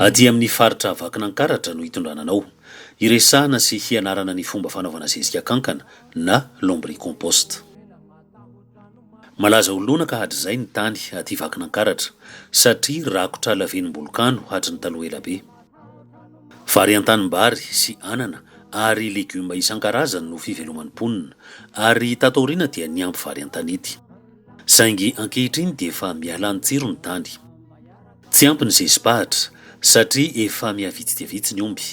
Aty amin'ny faritra Vakinankaratra no hitondrana anao. Hiresahana sy hianarana ny fomba fanaovana zezika kankana na lombricompost. Malaza ho lonaka hatrizay ny tany aty Vakinankaratra satria rakotra lavenimbolokano hatry ny taloha ela be. Vary an-tanimbary sy anana ary legioma isan-karazany no fiveloman'ny mponina ary tato aoriana dia niampy vary an-tanety. Saingy ankehitriny dia efa miala ny tsiro ny tany. Tsy ampy ny zezi-pahatra satria efa mihavitsy dia vitsy ny omby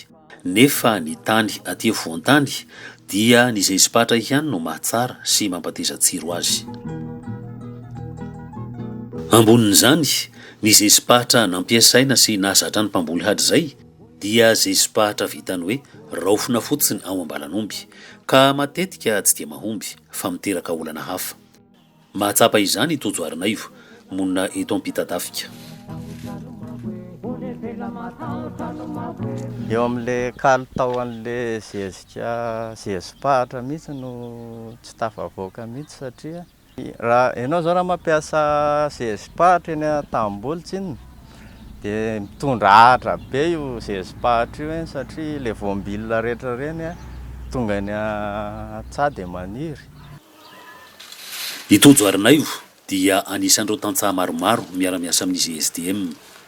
nefa ny tany aty afovoan-tany dia ny zezi-pahatra ihany no mahatsara sy mampateza tsiro azy. Ambonin'izany, Ny zezi-pahatra nampiasaina sy nahazatra ny mpamboly hatrizay dia zezi-pahatra vitan'ny hoe raofina fotsiny ao am-balan'omby, ka matetika tsy dia mahomby fa miteraka olana hafa. Mahatsapa izany i Tojo Arinaivo, monina eto Ampitatafika. Eo amin'ilay kalitao an'ilay zezika zezi-pahatra mihitsy no tsy tafavoaka mihitsy satria. Raha ianao zao raha mampiasa sezim-pahatra eny an-tanimboly tsinona dia mitondra ahatra be io sezim-pahatra io eny satria ilay voambilona rehetra ireny tonga eny an-tsaha dia maniry. I Tojo Arinaivo dia anisan'ireo tantsaha maromaro miara-miasa amin'ny GSDM.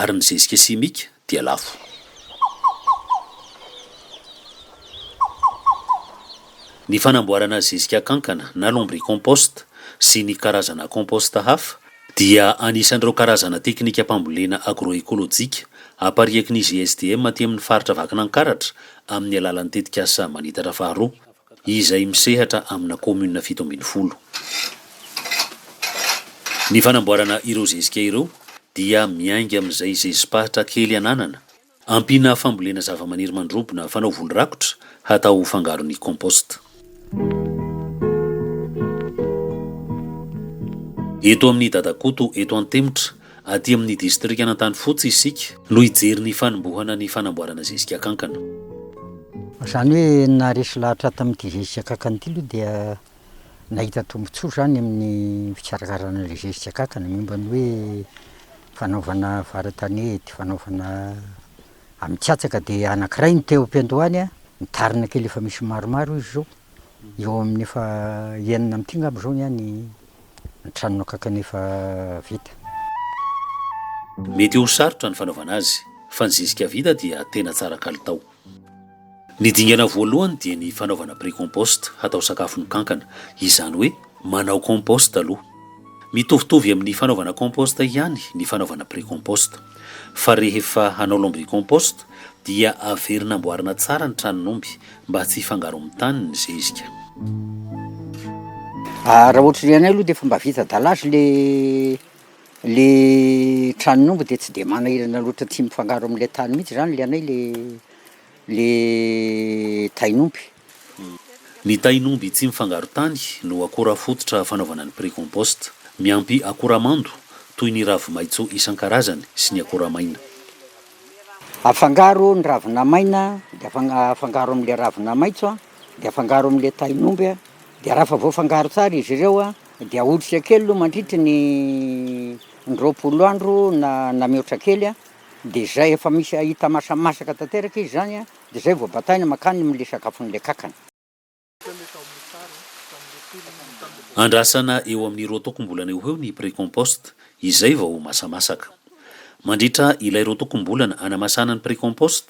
Ary ny zezika simika dia lafo. Ny fanamboarana zezika kankana na lombricomposte sy ny karazana composte hafa dia anisan'ireo karazana teknikam-pambolena agroekolojika apariaky ny GSDM aty amin'ny faritra Vakinankaratra amin'ny alalan'ny tetikasa Manitatra faharoa. izay misehatra amina kaominina fito ambin'ny folo. Ny fanamboarana ireo zezika ireo dia miainga amin'izay zezi-pahitra kely ananana, ampiana fambolena zavamaniry mandrobona fanao voly rakotra hatao ho fangaron'ny compost. Eto amin'ny Dadakoto eto Antemotra Aty amin'ny distrikan'Antanifotsy isika no hijery ny fanombohana ny fanamboarana zezika kankana. Izany hoe naharesy lahatra tamin'ity zezika kankana ity aloha dia nahita tombontsoa izany amin'ny fikarakarana ilay zezika kankana momba ny hoe fanaovana vara-tanety, fanaovana amin-katsaka dia anankiray no te-ho ampiandohany an, mitarina kely efa misy maromaro izy izao, eo amin'ny efa enina amin'ity angamba izao ny ahy ny. ny tranonao kankany efa vita. Mety ho sarotra ny fanaovana azy, fa ny zezika vita dia tena tsara kalitao. Ny dingana voalohany dia ny fanaovana pre-compost hatao sakafon'ny kankana, izany hoe manao compost aloha. Mitovitovy amin'ny fanaovana compost ihany ny fanaovana pre-compost. Fa rehefa hanao lombricompost dia averina amboarina tsara ny tranon'omby Mba tsy hifangaro amin'ny tany ny zezika. Ah, raha ohatry ny anay aloha dia efa mba vita dallage le le tranon'omby dia tsy dia manahirana loatra tsy mifangaro amin'ilay tany mihitsy zany le anay le le tain'omby. Ny tain'omby tsy mifangaro tany no akora fototra fanaovana ny pre-compost. Miampy akora mando toy ny ravi-maitso isan-karazany sy ny akora maina. Afangaro ny ravina maina de afangaro amle ravina maitso de afangaro amle tahin'omby a, de raha efa voafangaro tsara izy ireo a de ahotrika kely aloha mandritry ny indroapolo andro na mihoatra kely a, de zay efa misy hita masamasaka tanteraka izy zany a de zay vao bataina makany amle sakafon'le kankana. Andrasana eo amin'ny roa tokom-bolana eo ho eo ny pre-compost, izay vao ho masamasaka. Mandritra ilay roa tokom-bolana anamasahana ny pre-compost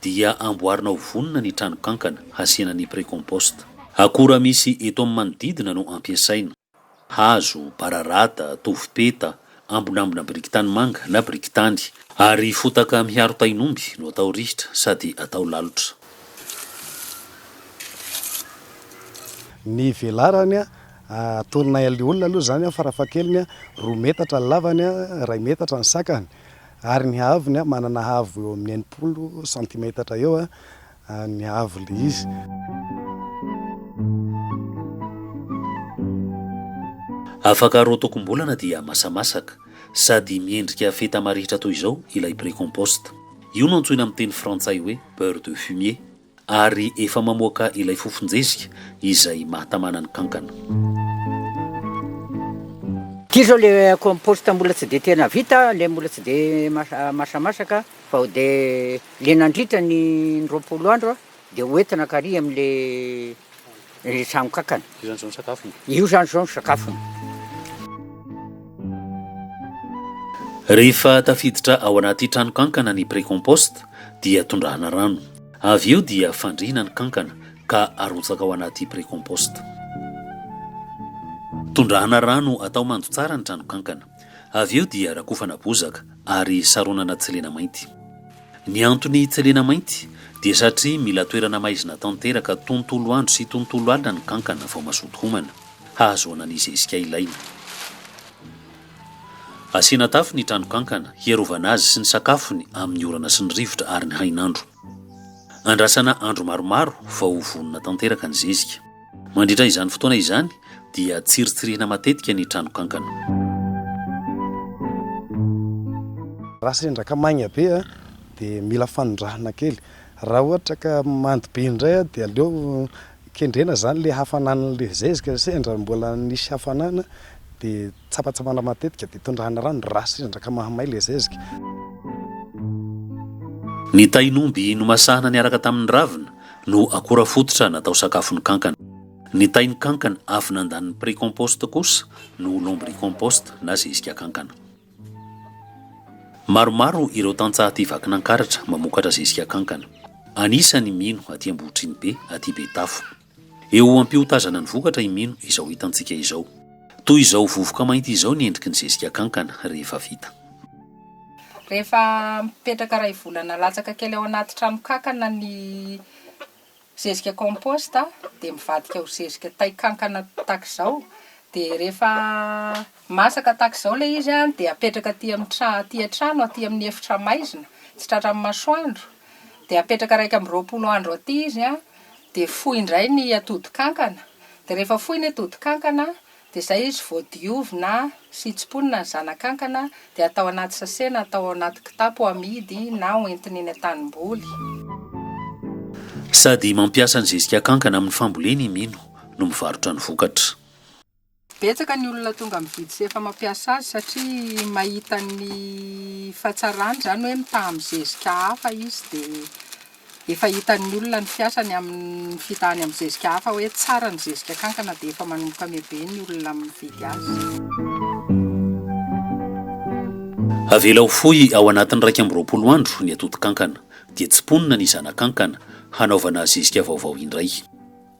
dia amboarina ho vonona ny tranokankana hasiana ny pre-compost. Akora misy eto amin'ny manodidina no ampiasaina. hazo, bararata, tovopeta, ambonambona biriky tanimanga na biriky tany. Ary fotaka miharo tahin'omby no atao rihitra sady atao lalotra. Ny velarany, atonina eo olona aloha izany farafahakeliny, roa metatra ny lavany, iray metatra ny sakany ary ny haavony manana haavo eo amin'ny enimpolo sentimetatra eo. any avo le izy. Afaka rotokom-bolana dia masamasaka, sady miendrika feta marihitra toy izao ilay pre-compost. Io no antsoina amin'ny teny frantsay hoe beurre de fumier, ary efa mamoaka ilay fofon-jezika izay mahatamana ny kankana. Ity izao ilay compost mbola tsy dia tena vita, ilay mbola tsy dia masamasaka. Vao dia le nandritra ny ny roapolo andro a, dia ho entina kary amin' le le trano kankana. Io zany zao ny sakafony. Io zany zao ny sakafony. Rehefa tafiditra ao anaty trano kankana ny pre-compost dia tondrahana rano. Avy eo dia fandrihina ny kankana ka arotsaka ao anaty pre-compost. Tondrahana rano atao mando tsara ny trano kankana. Avy eo dia rakofana bozaka ary saronana tselena mainty. Ny antony tselena mainty dia satria mila toerana maizina tanteraka tontolo andro sy tontolo alina ny kankana vao mazoto homana, hahazoana ny zezika ilaina. Asiana tafo ny tranokankana hiarovana azy sy ny sakafony amin'ny orana sy ny rivotra ary ny hainandro. Andrasana andro maromaro vao ho vonona tanteraka ny zezika. Mandritra izany fotoana izany dia tsiritsirihina matetika ny tranokankana. Raha sendra ka maigna be dia mila fanondrahana kely. Raha ohatra ka mando be indray dia aleo kendrena izany ilay hafanan'ilay zezika. Sendra mbola nisy hafanana dia tsapatsapana matetika dia tondrahana rano raha sendra ka mahamay ilay zezika. Ny tahin'omby nomasahana niaraka tamin'ny ravina. no akora fototra natao sakafon'ny kankana. Ny tain'ny kankana avy nandanin'ny pre-compost kosa no lombricompost na zezika kankana. Maromaro ireo tantsaha aty Vakinankaratra mamokatra zezika kankana. Anisan' i Mino aty Ambohitrinibe, aty Betafo. Eo ho am-piotazana ny vokatra i Mino izao hitantsika izao. Toy izao vovoka mainty izao ny endriky ny zezika kankana rehefa vita. Rehefa mipetraka iray volana latsaka kely ao anaty tranokankana ny zezika compost dia mivadika ho zezika tay kankana tahaka izao dia rehefa masaka tahaka izao ilay izy an dia apetraka aty amin'ny trano aty an-trano aty amin'ny efitra maizina tsy tratran'ny masoandro dia apetraka iraika amby roapolo andro aty izy an dia foy indray ny atody kankana dia rehefa foy ny atody kankana Dia izay izy vao diovina sy tsimponina ny zanakankana dia atao anaty sase na atao ao anaty kitapo ho amidy na ho entina eny an-tanimboly. Sady mampiasa ny zezika kankana amin'ny fambolena i Mino no mivarotra ny vokatra. Betsaka ny olona tonga mividy sy efa mampiasa azy satria mahita ny fahatsarany, izany hoe mitaha amin'ny zezika hafa izy dia Efa hitan'ny olona ny fiasany amin'ny fitahany amin'ny zezika hafa hoe tsara ny zezika kankana dia efa manomboka mihobe ny olona mividy azy. Avela ho fohy ao anatin'ny iraika amby roapolo andro ny atodin-kankana, dia tsiponina ny zana-kankana hanaovana zezika vaovao indray.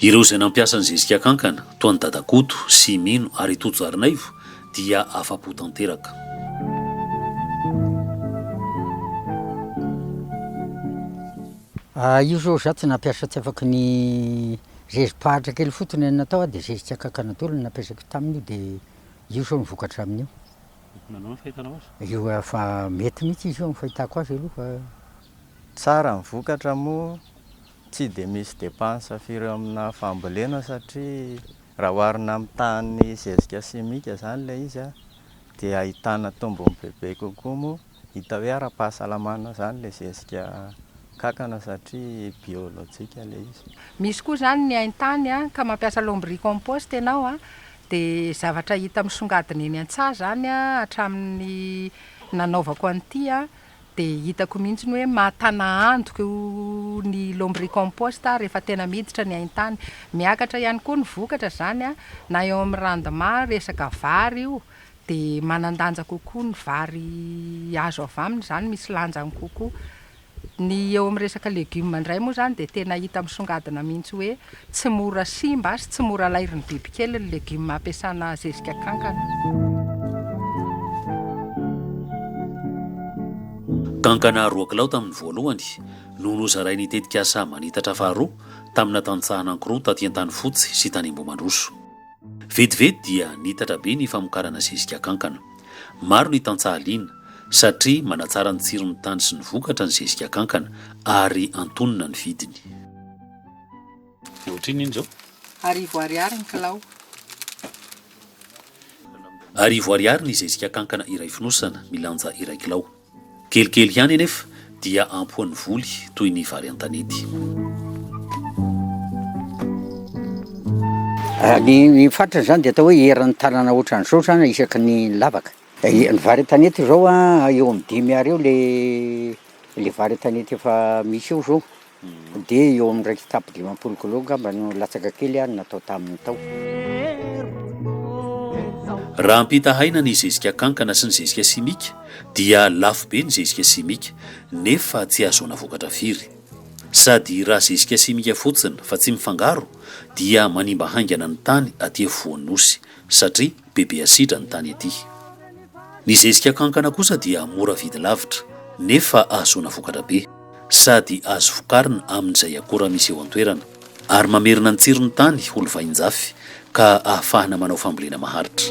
Ireo izay nampiasa ny zezika kankana, toa an'i Dada Koto, Simino ary Toto Zarinaivo dia afa-po tanteraka. Io izao izaho tsy nampiasa tsy afaky ny zezi-pahatra kely fotsiny no natao aho dia zezika kankana daholo no nampiasako tamin'io dia io izao no vokatra amin'io. Nanao ny fahitanao azy? Io efa mety mihitsy izy io amin'ny fahitako azy aloha fa. Tsara ny vokatra moa Tsy dia misy depansa firy eo amina fambolena satria raha oharina amin'ny tahan'ny zezika simika izany ilay izy dia ahitana tombony bebe kokoa moa hita hoe ara-pahasalamana izany ilay zezika kankana satria biolojika ilay izy. Misy koa izany ny haintany ka mampiasa lombricompost ianao dia zavatra hita misongadina eny an-tsaha izany hatramin'ny nanaovako an'ity. Dia hitako mihitsy ny hoe mahatana antoka io ny lombricompost rehefa tena miditra ny haintany. Miakatra ihany koa ny vokatra izany an, na eo amin'ny rendement resaka vary io dia manan-danja kokoa ny vary azo avy aminy izany, misy lanjany kokoa. Ny eo amin'ny resaka legume indray moa izany dia tena hita misongadina mihitsy hoe Tsy mora simba sy tsy mora alairin'ny bibikely ny legioma ampiasana zezika kankana. Kankana roa kilao tamin'ny voalohany no nozarain'ny tetikasa Manitatra faharoa tamina tantsaha anankiroa taty Antanifotsy sy tany Ambohimandroso. Vetivety dia niitatra be ny famokarana zezika kankana. Maro ny tantsaha liana, satria manatsara ny tsiron'ny tany sy ny vokatra ny zezika kankana, ary antonona ny vidiny. Dia ohatrinona iny izao? Arivo ariary ny kilao. Arivo ariary ny zezika kankana iray fonosana, milanja iray kilao. Kelikely ihany anefa dia ampohan'ny voly toy ny vary an-tanety. Ny fatrany izany dia atao hoe eran'ny tanana ohatran'izao izany isaky ny lavaka. Ye, ny vary an-tanety izao a, eo amin'ny dimy Ar eo le le vary an-tanety efa misy eo zao, de eo amin'ny iraika sy tapitrisa dimampolo kilao angamba no latsaka kely ary natao taminy tao. Raha ampitahaina ny zezika kankana sy ny zezika simika dia lafo be ny zezika simika nefa tsy ahazoana vokatra firy. Sady raha zezika simika fotsiny fa tsy mifangaro dia manimba haingana ny tany aty afovoan'ny Nosy satria bebe asidra ny tany ety. Ny zezika kankana kosa dia mora vidy lavitra nefa ahazoana vokatra be sady azo vokarina amin'izay akora misy eo an-toerana ary mamerina ny tsiron'ny tany ho lovain-jafy ka ahafahana manao fambolena maharitra.